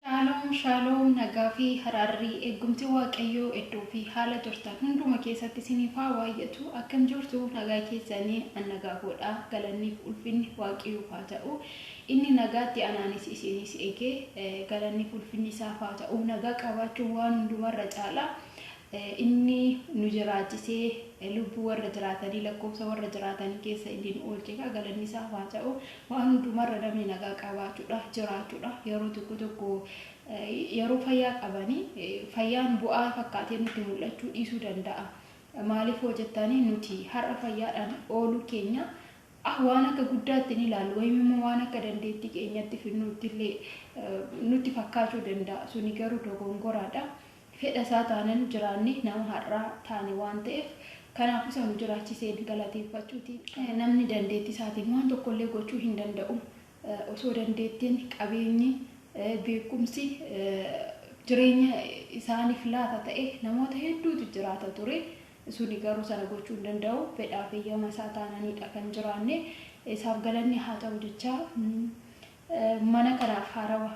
Shaaloom shaaloom nagaa fi haraarri eeggumti waaqayyoo iddoo fi haala jirtan hunduma keessatti isiniif haa waayyatu akkam jirtu nagaa keessani an nagaa koodha galanniif ulfinni waaqayyoof haa ta'u inni nagaatti anaanis isiinis eegee galanniif ulfinni isaaf haa ta'u nagaa qabaachuu waan hundumarra caala Inni nu jiraachisee lubbuu warra jiraatanii, lakkoofsa warra jiraatanii keessa inni nu oolche egaa galanni isaaf haa ta'u. Waan hundumarra namni nagaa qabaachuudha, jiraachuudha. Yeroo tokko tokko yeroo fayyaa qabanii fayyaan bu'aa fakkaatee nutti mul'achuu dhiisuu danda'a. Maaliif hoo jettanii nuti har'a fayyaadhaan ooluu keenya waan akka guddaatti ni ilaallu wayim immoo waan akka dandeettii keenyatti fidnuutti illee nutti fakkaachuu danda'a. Suni garuu dogongoraadha. Fedha isaa taanan jiraanne nama har'aa taane waan ta'eef, kanaafuu isa nu jiraachiseen galateeffachuutiin qaba. Namni dandeettii isaatiin waan tokko illee gochuu hin danda'u. Osoo dandeettiin, qabeenyi, beekumsi jireenya isaaniif laata ta'e namoota hedduutu jiraata ture. Suni garuu sana gochuu hin danda'u. Fedhaaf eeyyama isaa taananiidha kan jiraanne. Isaaf galanni haa ta'u jechaa Mana kanaaf haarawa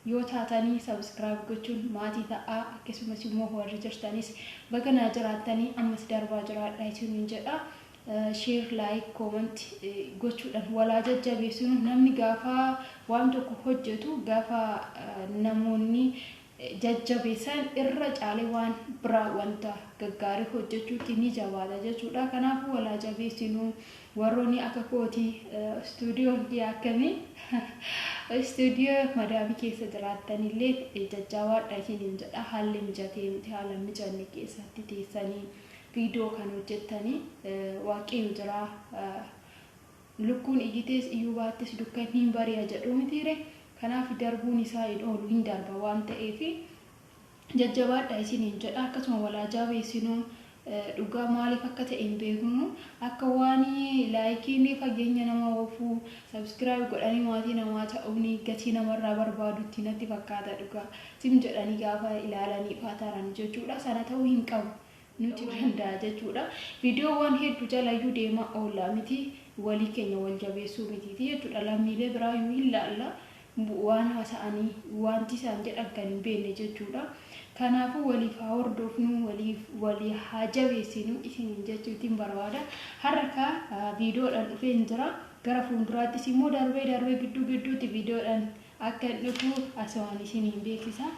Yoo taatani subscribe gochuun maatii ta'aa akkasumas immoo warri jirtanis baga naa jiraattani ammas darbaa jiraadha isinin jedha share like comment gochuudhan wal haa jajjabeessinu namni gaafa waan tokko hojjetu gaafa namoonni jajjabeessan irra caalee waan biraa wanta gaggaarii hojjechuutti ni jabaata jechuudha. Kanaafuu wal haa jabeessinu. Warroonni akka kooti istuudiyoon dhiyaattanii istuudiyoo madaamii keessa jiraattanillee jajjaabaadha isiniin jedha. Haalli mijatee miti haala hin mijanne keessatti teessanii viidiyoo kan hojjettanii waaqayyo jiraa. Lukkuun iyyitees iyyuu baattes dukkanni hin bari'a jedhuu mitiiree? Kanaaf darbuun isaa hin oolu hin darba waan ta'eef jajjabaadhaa isiniin jedha. Akkasuma wal haa jaabeessinuu dhugaa maaliif akka ta'e hin beeknu akka waan laayikiin fageenya nama oofu subscribe godhanii maatii namaa ta'uun gatii namarraa barbaadutti natti fakkaata dhugaa. Zim jedhanii gaafa ilaalaniif haa tarani jechuudha sana ta'uu hin qabu. nuti danda'a jechuudha. Viidiyoowwan heddu jalayyuu deemaa oolla miti walii keenya wal jabeessuu mitiiti jechuudha. Lammiilee biraayyuu hin laalla waan haasa'anii waanti isaan jedhan kan hin beekne jechuudha. Kanaafuu waliif haa hordoofnuu waliif walii haa jabeessinuu isiniin jechuutiin barbaada. Har'a kaa viidiyoodhaan dhufeen jira. Gara fuulduraattis immoo darbee darbee gidduu gidduutti viidiyoodhaan akkan dhufu asumaan isiniin beeksisa.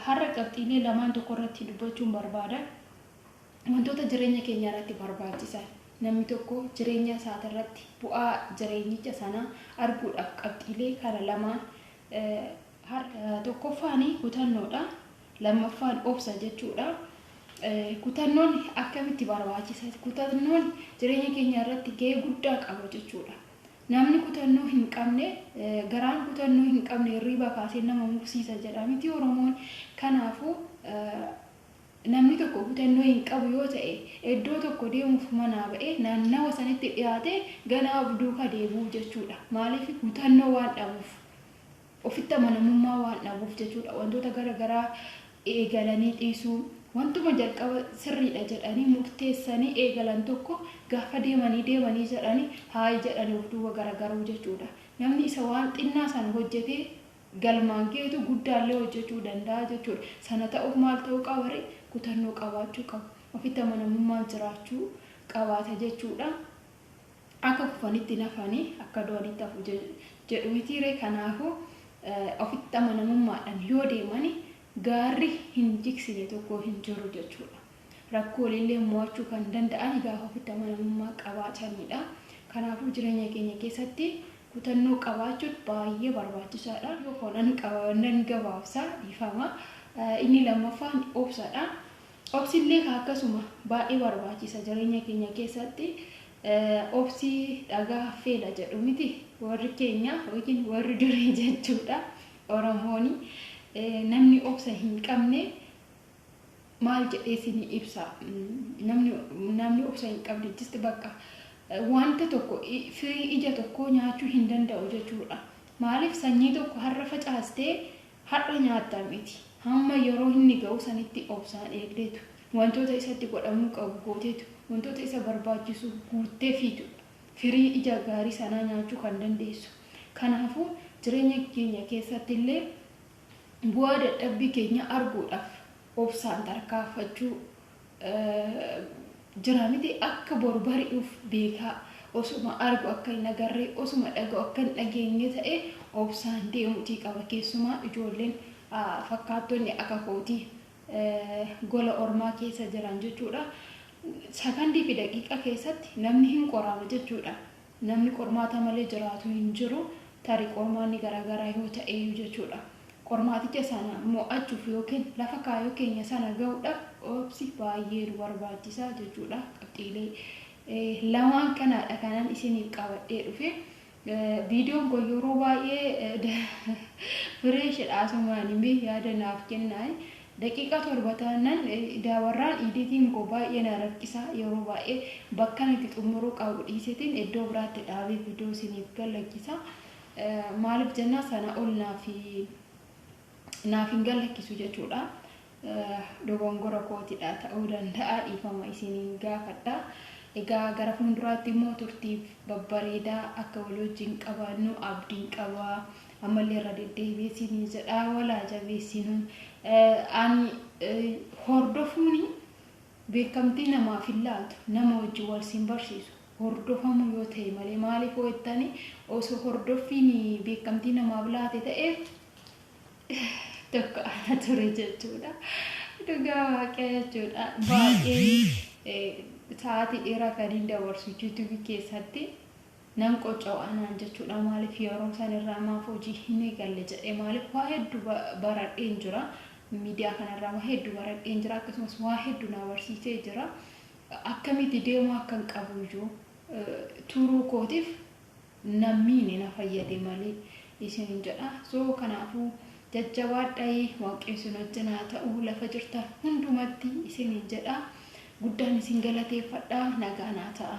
Har'a qabxiilee lamaan tokko irratti dubbachuun barbaada. Wantoota jireenya keenya irratti barbaachisan, namni tokko jireenya isaati irratti bu'aa jireenyicha sanaa arguudhaaf qabxiilee kana lamaan har'a tokkoffaan kutannoodha, lammaffaan obsa jechuudha. Kutannoon akkamitti barbaachisa? Kutannoon jireenya keenya irratti gahee guddaa qaba jechuudha. Namni kutannoo hin qabne garaan kutannoo hin qabne hirriibaa kaasee nama mursiisa jedha mitii Oromoon? Kanaafuu, namni tokko kutannoo hin qabu yoo ta'e eddoo tokko deemuuf manaa ba'ee naannawa sanitti dhiyaatee ganaa of duuka deebi'uu jechuudha. Maaliif? Kutannoo waan dhabuuf. Ofitti amanamummaa waan dhabuuf jechuudha. Wantoota gara garaa eegalanii dhiisuu, wantuma jalqaba sirriidha jedhanii murteessanii eegalan tokko gaafa deemanii deemanii jedhanii haayi jedhanii of duuba garagaruu jechuudha. Namni isa waan xinnaa sana hojjetee galmaan gahetu guddaallee hojjechuu danda'a jechuudha. Sana ta'uuf maal ta'uu qaba ree? Kutannoo qabaachuu qaba. Ofitti amanamummaan jiraachuu qabaata jechuudha. Akka kufanitti hin hafani, akka du'anitti hafu jedhu mitii ree? Kanaafuu, ofitti amanamummaadhaan yoo deeman gaarri hin jigsine tokko hin jiru jechuu dha. Rakkoolee illee mo'achuu kan danda'an gaafa ofitti amanamummaa qabaatani dha. Kanaafuu, jireenya keenya keessatti kutannoo qabaachuun baay'ee barbaachisaa dha. Yoo foonan qaba, nan gabaabsa, dhiifama. Inni lammaffaan obsa dha. Obsi illee kaa akkasuma baay'ee barbaachiisa jireenya keenya keessatti obsi dhagaa haffeedha jedhu miti warri keenya yookiin warri durii jechuudha oromooni namni obsa hin qabne maal jedhee isinii ibsa namni namni obsa hin qabne jisti bakka wanta tokko firii ija tokkoo nyaachuu hin danda'u jechuudha maaliif sanyii tokko har'a facaastee Har'a nyaatta miti. Hamma yeroo inni ga'u sanitti obsaan eegdeetu. Wantoota isatti godhamuu qabu gooteetu. Wantoota isa barbaachisu guuttefiitudha firii ija gaarii sanaa nyaachuu kan dandeessu. Kanaafuu, jireenya keenya keessattillee bu'aa dadhabbii keenyaa arguudhaaf obsaan tarkaanfachuu Jira miti akka boru bari'uuf beekaa osuma argu akka hin agarre osuma dhaga'u akka hin dhageenye ta'e obsaan deemutii qaba keessumaa ijoolleen fakkaattonni akka kooti gola ormaa keessa jiran jechuudha sakandii fi daqiiqa keessatti namni hin qoraama jechuudha Namni qormaata malee jiraatu hin jiru, tarii qormaanni garaagaraa yoo ta'eyyuu jechuudha. Qormaaticha sana mo'achuuf yookiin lafa kaayoo keenya sana ga'uudhaaf obsi baay'ee nu barbaachisa jechuudha. Qabxiilee lamaan kanaadha kanan isiniif qabadhee dhufe. Viidiyoon koo yeroo baay'ee fireeshidha asumaani mee yaada naaf kennaa. Daqiiqaa torba taannan daawarraan iiditiin koo baay'ee na rakkisa yeroo baay'ee bakkan itti xummuruu qabu dhiisetiin iddoo biraatti dhaabee vidoo isiniif gallakkisa maalif jennaa sana ol naaf naaf hin gallakkisu jechuudha dogongora kootidha ta'uu danda'a dhiifama isiniin gaafadha egaa gara fuulduraatti immoo turtiif babbareedaa akka wal wajjin qabaannu abdiin qaba ammallee irra deddeebi'ee siinii jedhaa walaa jabeessinuu ani hordofuuni beekamtii namaaf hin laatu nama wajjin wal siin barsiisu hordofamuu yoo ta'e malee maaliif hojjettani osoo hordoffiin beekamtii namaaf laate ta'e tokko ana ture jechuudha dhugaa waaqaa jechuudha baay'ee sa'aatii dheeraa kan hin dabarsu yuutuubii keessatti. Nan qocco'a naan jechuudha maaliif yeroo san irraa maaf hojii hin eegalle jedhee maaliif waa heddu baradheen jira miidiyaa kana irraa waa heddu baradheen jira akkasumas waa heddu naa barsiisee jira akkamitti deemuu akkan qabu iyyuu turuu kootiif na miine na fayyade malee isinin jedha soo kanaafuu jajjabaadhayi waaqni isin wajjin haa ta'u lafa jirtan hundumatti isinin jedha guddaan isin galateeffadha nagaa naa ta'a.